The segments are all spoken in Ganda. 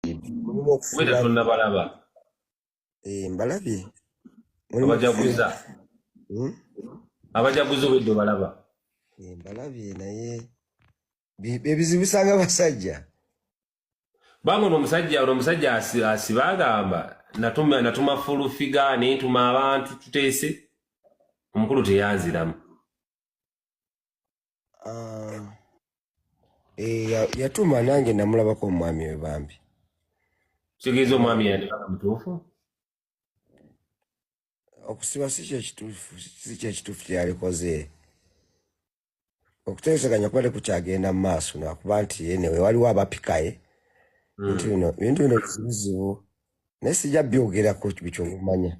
mulimu okufuula tonnabalaba eh, mbalabye abajaguza hmm? abajaguza obwedde obalaba eh, mbalabye naye bebizibusanga basajja bange ono omusajja ono omusajja asiba agamba natuma natuma fulu figa nentuma abantu tuteese omukulu teyanziramu Ah, eh, ya- yatuma nange namulabako omwami we bambi kitegeeza omwami yandibaka mutuufu okusiba si kyekituufu si kyekituufu kyeyalikoze okuteeseganya kuba tekukyagenda mu maaso nakuba nti enewe waliwo abapikaye bintu bino bintu bino bizibuzibu naye sijja byogerako bikyomumanya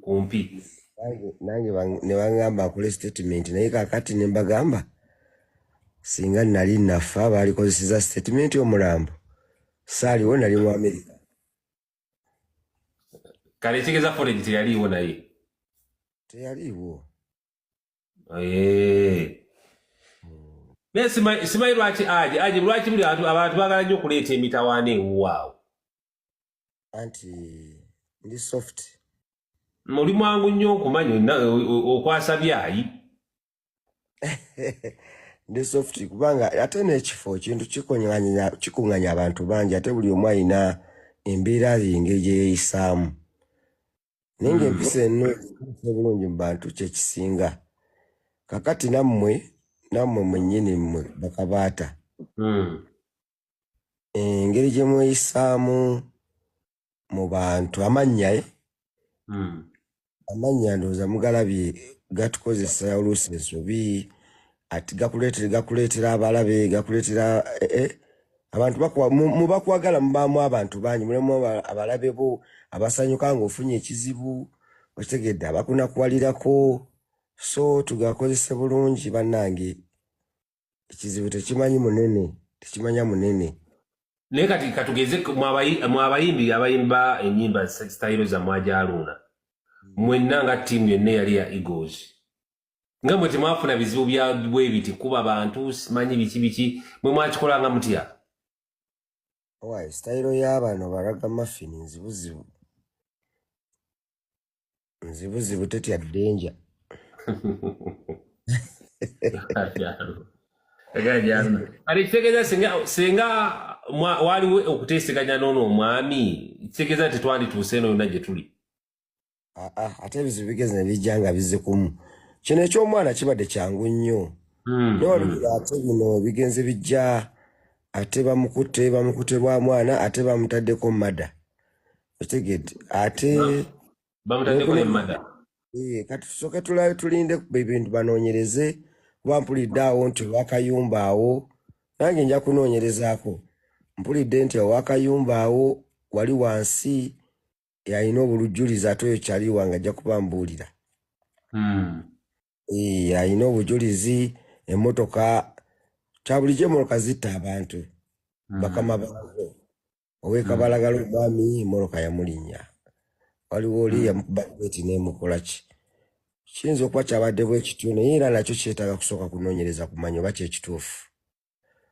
kumpi nange ne baŋŋamba akole statement naye kakati ne mbagamba singa nali nafa baalikozeseza statement omulambo saaliwo nali mu amerika kale ekitegeeza foregi teyaliiwo naye teyaliiwo naye simanyi lwaki aje aje lwaki buli abantu abantu bagala nnyo okuleeta emitawaana ewuwaawo anti ndi soft muli mwangu nnyo okumanya okwasa byayi ndi soft kubanga ate n'ekifo kintu kikuŋanya abantu bangi ate buli omu alina embeera ye engeri gye yeeyisaamu naye nga empisa mm. eno obulungi mu bantu kyekisinga kakati nammwe nammwe mwennyini mmwe bakabaata mm. engeri gye mweyisaamu mu bantu amannya e hmm. amannya ndowooza mugalabye gatukozesa oluusi ensobi ati gakuleetera gakuleetera abalabe gakuleetera eh, eh. abantu mubakwagala mubaamu abantu bangi mulimu abalabe bo abasanyuka ngaofunye ekizibu okitegedde abakunakuwalirako so tugakozese bulungi bannange ekizibu tekimanyi munene tekimanya munene naye kati katugeze mwabayimbi abayimba enyimba sitayiro zamwajaluuna mwenna nga tiimu yonna eyali ya egos nga mwe temwafuna bizibu byabwebiti kuba bantu simanyi biki biki mwe mwakikolanga mutya sitayiro y'abano baraga mafini nzibuzibu nzibuzibu tetya danger kati kitegeeza singa singa mwa- waaliwo okuteeseganya n'ono omwami kitegeeza nti twandituuse eno yonna gye tuli Ah, ah, ate ebizibu bigeze ne bijja nga bizze kumu kino eky'omwana kibadde kyangu nnyo Mm, naye olugero ate bino bigenze bijja ate bamukutte bamukutte lwa mwana ate bamutaddeko mada otegedde ate bamutaddeko ne mada eh, kati tusooke tulabe tulinde ebintu banoonyereze kuba mpulidde awo nti owakayumba awo nange nja kunoonyerezaako mpulidde nti owakayumba awo wali wansi yalina obulujjulizi ate oyo kyaliwa nga ajja kuba mbuulira hmm. eh, alina obujulizi emmotoka kyabulijjo emmotoka zitta abantu hmm. bakama bakubo owekabalagala mm. omwami moroka yamulinya waliwo oli mm. yamukubati nemukolaki kiyinza okuba kyabadde bwekityo naye era nakyo kyetaaga kusooka kunonyereza kumanya oba kyekituufu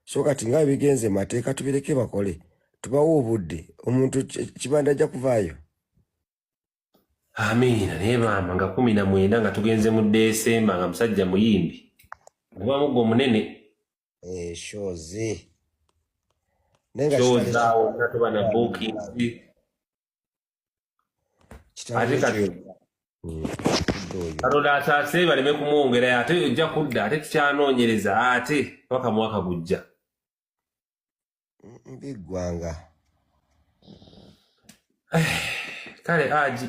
so kati nga ebigenze mateeka tubireke bakole tubawo obudde omuntu kibanda ajja kuvaayo amiina naye maama nga kumi na mwenda nga tugenze mu desemba nga musajja muyimbi oba mugga omunene eh shows nenga shows zao tatu bana booking ate kati katonda ataase baleme kumwongera ate ojja kudda ate tukyanoonyereza ate paka mwaka gujja biggwanga kale aji